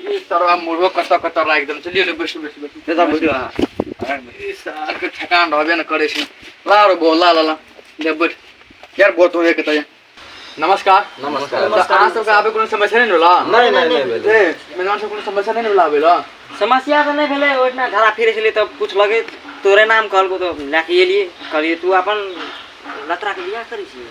ई सरवा मुर्गो कतऽ कतऽ राखि देने छै लिअ लिअ बैसू बैसू बैसू बेटा बैठो अहाँ ई सारके ठेकान रहबे ने करै छै ला रो बो ला ला ला ले बैठ यार बहुत हो एक तय नमस्कार नमस्कार। तऽ अहाँ सबके आबे कोनो समस्या नहि ने होला नहि नहि नहि भेलै। ए, मेहमान सब कोनो समस्या नहि ने होला आबे ला समस्या तऽ नहि भेलै ओहिठिना घरा फिरै छलियै तऽ पुछलकै तोरे नाम कहलकौ तऽ लए कऽ एलियै कहलियै तू अपन लतराके बियाह करै छियै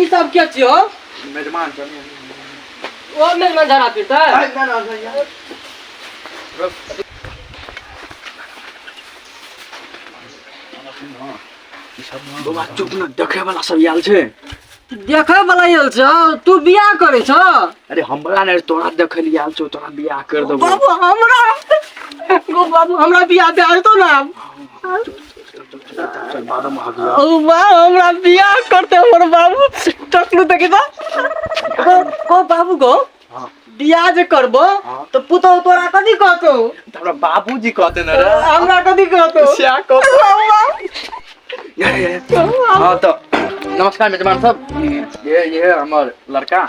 ई सब के छियो मेजमान सब ओ मेजमान धरा फिरता है ना ना भैया बाबा चुप न देखे वाला सब आयल छै देखे वाला आयल छ तू बियाह करे छ अरे हमरा ने तोरा देखे लिए आयल छौ तोरा बियाह कर देबो बाबू हमरा बाबू हमरा बियाह दे तो ना ओ माँ हमरा बियाह करते हमर बाबू टकलू देखी तो ओ ओ बाबू गो बियाह जे करबो तो पुतो तोरा कथी कहतो हमरा बाबूजी कहते न रे हमरा कथी कहतो स्या को हाँ तो नमस्कार मेजबान सब ये ये हमर लड़का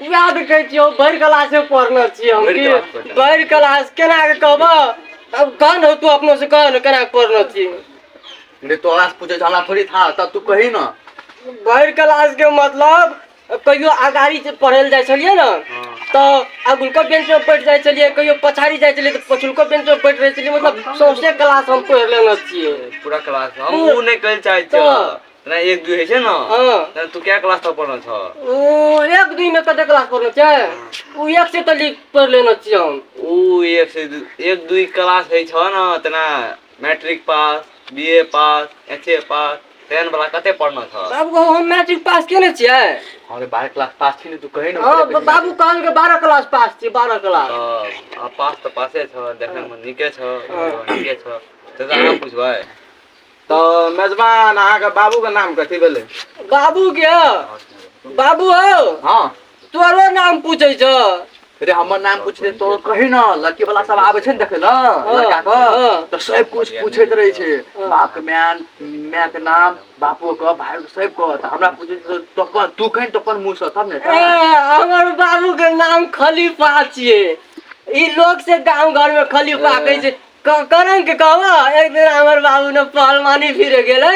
उएह तऽ कहै छियै हम भरि क्लासे पढ़ने छियै हम भरि की क्लास पढ़ने भरि क्लास केना कऽ कहबह तब कह ने तू अपनो से कह ने केना कऽ पढ़ने छियै रे तोरा से पूछे छै हमरा थोड़ी था तब तू कही ना भरि क्लास के मतलब कहियो अगाड़ी से पढ़ै लए जाइ छलियै ने हाँ। तऽ अगुलको बेंच पर बैठ जाइ छलियै कहियो पछाड़ी जाइ छलियै तऽ पछुलको बेंच पर बैठ रहै छलियै मतलब सौंसे क्लास हम पढ़ि लेने छियै पूरा क्लास हम पूरा- ऊ नहि कहै चाहै छियै तऽ ना एक दुई होइ छै ना हाँ। ना तू क्या क्लास तक पढ़ल छ ओ एक दिन में कते क्लास पढ़ना चाहिए वो एक से तो लिख पढ़ लेना चाहिए हम ऊ एक से दू एक दुई क्लास होइ छ ना तना मैट्रिक पास बीए पास एचए पास टेन वाला कते पढ़ना छ बाबू हम मैट्रिक पास केने छियै अरे बारह क्लास पास छी ने तू कहे ना हाँ ब- बाबू कहल के बारह क्लास पास छी बारह क्लास आ पास तो पासे छ देखे में निके छ हाँ। निके छ तो आराम पूछबै तो मेजबान अहाँ के बाबू के नाम कथी भेले बाबू के बाबू हो हाँ तोरो नाम पूछे छ रे हमर नाम पूछते तो कही ना लड़की वाला सब आबे छै ने देखे ला लड़का के हाँ। तो सब कुछ पूछैत रहे छै हाँ। बाप के मैन माय के नाम बापो के भाई के सब के तो हमरा पूछे छै, तो अपन तू कहीं तो अपन मुंह से तब ने ए, हमर बाबू के नाम खलीफा छिए ई लोग से गांव घर में खलीफा ए। कहै छै क- करम के कहबो एक दिन हमर बाबू ने पहलवानी फिरे गेले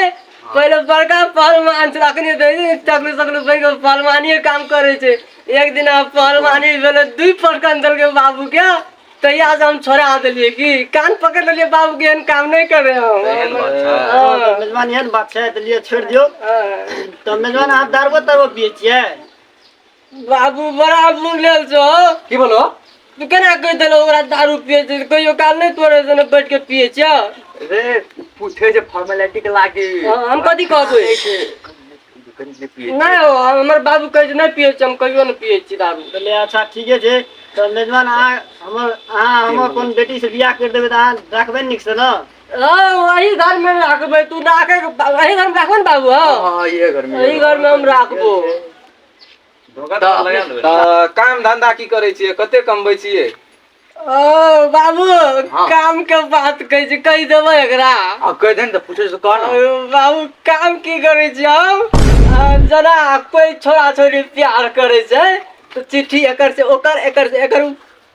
पहिले बड़का पहलवान छल अखनी तो ई टकलू सकलू बन के पहलवानी काम करे छे एक दिन हम पहलवानी भेले दुई पटकन देल के बाबू के तहिया से हम छोड़ा देलिए कि कान पकड़ लेलिए बाबू के एहन काम नहीं करे हम एहन बात छै। हाँ, तऽ मेजबान एहन बात छै तऽ लिए छोड़ि दियौ हाँ। तऽ मेजबान अहाँ दारुओ तारुओ पियै छियै बाबू बड़ा मुंडल छो की बोलो तू केना कह देलो ओकरा दारू पिए छै कहियो काल नहीं तोरे सने बैठ के पिए छ रे पूछे जे फॉर्मेलिटी के लागी हाँ, हम कथी कहबै नहीं हो हमर बाबू कहे छै नहीं पिए छै हम कहियो नहीं पिए छी दारू बोले अच्छा ठीक है जे तो मेजबान आ हमर आ हमर अपन बेटी से बियाह कर देबे त आ रखबे निक से ना हाँ, वही घर में रखबै तू राखे वही घर में रखबै ने बाबू हाँ हाँ ये घर में यही घर में हम राखबो तऽ काम धंधा की करै छियै कते कमबै छियै ओ बाबू हाँ। काम के बात कहै छै कहि देबै एकरा आ कहि दे ने तऽ पूछै कह ने बाबू काम की करै छी हम जेना कोइ छोरा छोरी प्यार करै छै तऽ चिट्ठी एकर से ओकर एकर से एकर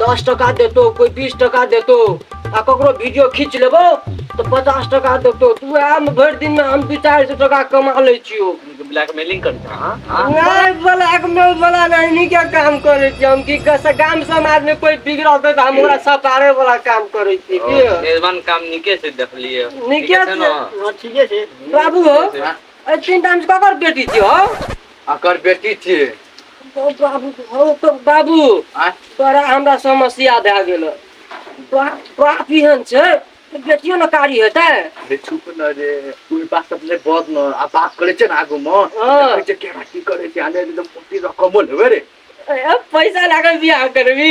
दस टका देतो कोई बीस टका देतो आ ककरो वीडियो खींच लेबो तो पचास टका देतो तू वएह में भरि दिन में हम दू चारि सौ टका कमा लै छियो ब्लैकमेलिंग करते हैं हाँ? हाँ? नहीं ब्लैक मेल वाला नहीं के काम करे छी हम की कस गाम समाज में कोई बिगड़ल तो हम ओकरा सपारे वाला काम करे छी ओ, की मेजबान काम निके से देख लिए निके से। ना? हाँ, ठीके छै बाबू हो हाँ। ए तीन टाइम से ककर बेटी छी हो अकर बेटी छी बाबू हौ तौ बाबू आँय तोरा हमरा समस्या भए गेलऽ बा बाप एहन छै बेटियो ने कारी हेतै अरे चुप न रे ओहि बात सब ले बहुत न आ बात करे छे ना आगू में हाँ। देखे छे केना की करे छे आने एकदम मोटी रकमो लेवे रे ए, पैसा लागल बियाह करबी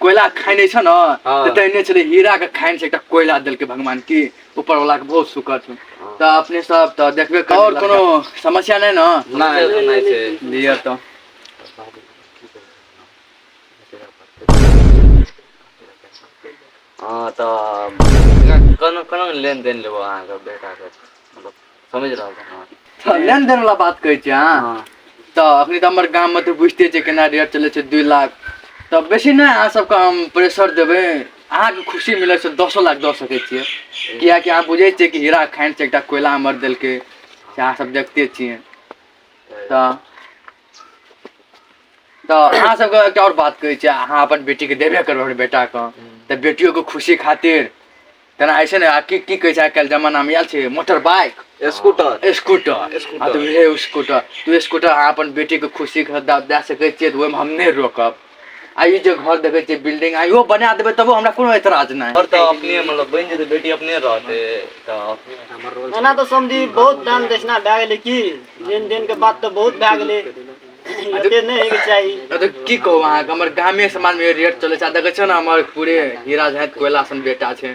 कोयला खाइ नहि छ ने हाँ। तऽ तहिने छलै हीरा के खाइन से एकटा कोयला देलकै भगवान की ऊपर वाला के बहुत शुक्र छै तऽ अपने सब तऽ देखबे कर और कोनो समस्या नहि ने नहि तऽ नहि छै लिअ तऽ हँ तऽ कोना कोना लेन देन लेबौ अहाँके बेटाके मतलब समझ रहल छी अहाँ? तऽ लेन देन वाला बात कहै छी अहाँ हँ। तऽ अखनी तऽ हमर गाममे तऽ बुझिते छियै केना रेट चलै छै दुइ लाख तऽ बेसी नहि अहाँ सबके हम प्रेशर देबै अहाँके खुशी मिलत से दसो लाख दऽ सकै छियै किएकि अहाँ बुझै छियै कि हीरा खान छै एकटा कोयला हमर देलकै से अहाँ सब देखते छियै तऽ तऽ अहाँ सबके एकटा आओर बात कहै छै अहाँ अपन बेटीके देबे करबै हमर बेटाके तऽ बेटियोके खुशी खातिर तेना होइ छै ने आ की की कहै छै आइ काल्हि जमानामे आयल छै motor bike scooter scooter scooter. आ तऽ उहे स्कूटर तऽ स्कूटर अहाँ अपन बेटीके खुशी खातिर दए सकै छियै तऽ ओहिमे हम नहि रोकब आ ई जे घर देखै छियै बिल्डिंग आ इहो बना देबै तबो हमरा कोनो एतराज नहि घर तऽ अपने मतलब बनि जेतै बेटी अपने रहतै तऽ अपने हमर रोल ओना तऽ समझी बहुत दान दक्षिणा भए गेलै की लेन देन के बात तऽ बहुत भए गेलै एते नहि होइके चाही नहि तऽ की कहू अहाँके हमर गामे समाजमे रेट चलै छै आ देखै छियै ने हमर पूरे हीरा झाँक कोयला सन बेटा छै